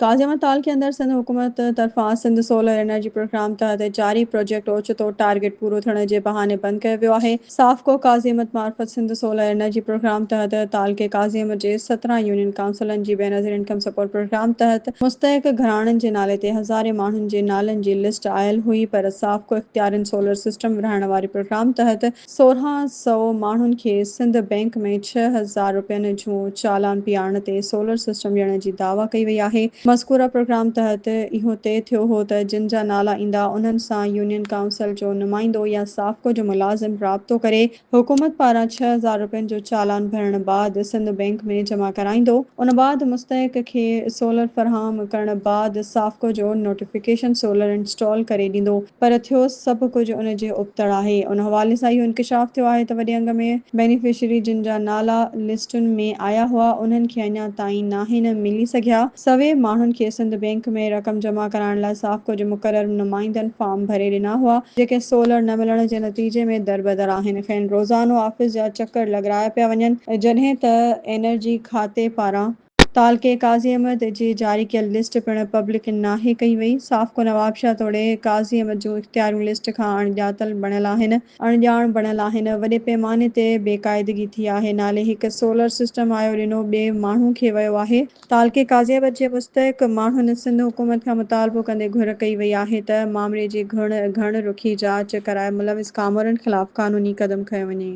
تازي ۾ تعلقي اندر سنڌ حڪومت طرفان سنڌ سولر انرجي پروگرام تحت چارئي پروجيڪٽ اوچتو ٽارگيٽ پورو ٿيڻ جي بهاني بند ڪيو ويو آهي. سافڪو قاضي احمد معرفت سنڌ سولر انرجي پروگرام تحت تعلقي قاضي احمد جي سترهن يونين ڪائونسلن جي بينظير انڪم سپورٽ پروگرام تحت مستحق گهراڻن جي نالي تي هزارين ماڻهن جي نالن جي لسٽ آيل هئي پر سافڪو اختيارين سولر سسٽم ورهائڻ واري پروگرام تحت سورهن سئو ماڻهن کي سنڌ بئنڪ ۾ ڇهه هزار رپين جون چالان پيئارڻ تي سولر سسٽم ڏيڻ جي دعويٰ ڪئي وئي آهي. مذڪوره پروگرام تحت اهو طئي ٿيو هو ته جن جا نالا ايندا انهن سان يونين ڪائونسل جو نمائندو يا سافڪو جو ملازم رابطو ڪري حڪومت پاران ڇهه هزار رپين جو چالان ڀرڻ بعد سنڌ بئنڪ ۾ جمع ڪرائيندو ان بعد مستحق کي سولر فراهم ڪرڻ بعد سافڪو جو نوٽيفڪيشن سولر انسٽال ڪري ڏيندو. پر ٿيو سڀ ڪجهه ان جي ابتڙ آهي. ان حوالي سان اهو انڪشاف ٿيو آهي ته وڏي انگ ۾ بينيفشري جن جا نالا لسٽن ۾ آيا هئا انهن کي اڃا تائين ناهن ملي سگهيا. سوين ماڻهن کي سنڌ بينڪ ۾ رقم جمع ڪرائڻ لاء سافڪو جي مقرر نمائندن فارم ڀري ڏنا هئا، جيڪي سولر نه ملڻ جي نتيجي ۾ دربدر آهن، کين روزانو آفيس جا چڪر لڳرايا پيا وڃن، جڏهن ته انرجي کاتي پاران تعلقي قاضي احمد جي جاري ڪيل لسٽ پڻ پبلڪ ناهي ڪئي وئي. صاف ڪو نوابشاهه توڙي قاضي احمد جون اختياريون لسٽ کان اڻ ڄاتل بڻيل آهن. اڻ ڄاڻ بڻيل آهن. وڏي پيماني تي بي قاعدگي ٿي آهي. نالي هڪ سولر سسٽم آيو ڏنو ٻئي ماڻهو کي ويو آهي. تعلقي قاضي احمد جي مستحق ماڻهن سنڌ حڪومت کان مطالبو ڪندي گهر ڪئي وئي آهي ته معاملي جي گهڻ رخي جاچ ڪرائي ملوث ڪامورن خلاف قانوني قدم کنيو وڃي.